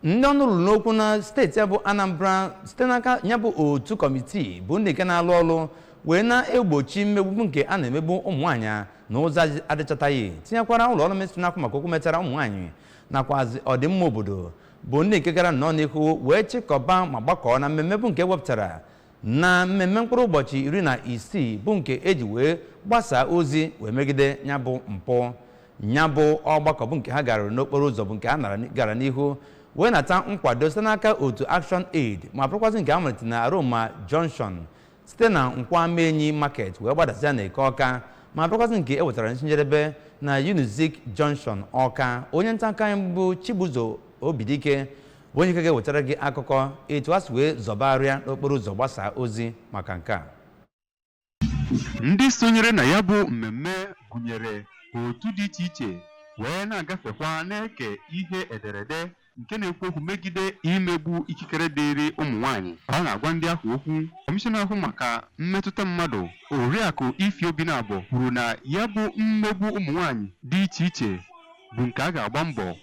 ndị ọnụ ruru n'okwu na steeti a bụ anambra site n'aka ya bụ otu kọmitii bụ ndị nke na-alụ ọrụ wee na-egbochi mmegbu nke a na-emegbu ụmụ nwaanyị na ụzọ adị- adịchataghị tinyekwara ụlọ ọrụ ministrị na-ahụ maka okwu metara ụmụ nwaanyị nakwazi ọdịmma obodo bụ ndị nke gara nnọọ n'ihu wee chịkọba ma gbakọọ na mmemme bụ nke e wepụtara na mmemme mkpụrụ ụbọchị iri na isii bụ nke e ji wee gbasaa ozi wee megide ya bụ mpụ nya bụ ọgbakọ bụ nke ha gara n'okporo ụzọ bụ nke a nara- gara n'ihu wee nata nkwado site n'aka otu action aid ma bụrụkwazị nke a malitere na aroma junction site na nkwọ amaenyi market wee gbadasịa na eke ọka ma bụrụkwazị nke e wetara n'isi njedebe na unizik junction ọka onye nta akụkọ anyị bụ chibuzo obidike bụ onye nke ga-ewetara gị akụkọ etu ha si wee zọbarịa n'okporo ụzọ gbasaa ozi maka nke a Ndị sonyere na ya bụ mmemme gụnyere otu dị iche iche wee na-agafekwa na-eke ihe ederede nke na-ekwu okwu megide imegbu ikikere dịịrị ụmụ nwaanyị ka ọ na-agwa ndị ahụ okwu kọmishọna na-ahụ maka mmetụta mmadụ oriakụ Ify Obinabo kwuru na ya bụ mmegbu ụmụ nwaanyị dị iche iche bụ nke a ga-agba mbọ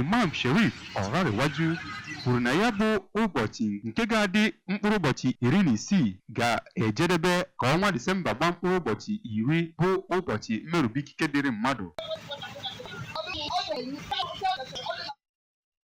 Imam Sherif Olanrewaju kwuru na ya bụ ụbọchị nke ga-adị mkpụrụ ụbọchị iri na isii ga-ejedebe ka ọnwa Disemba gbaa mkpụrụ ụbọchị iri bụ ụbọchị mmerube ikike dịrị mmadụ.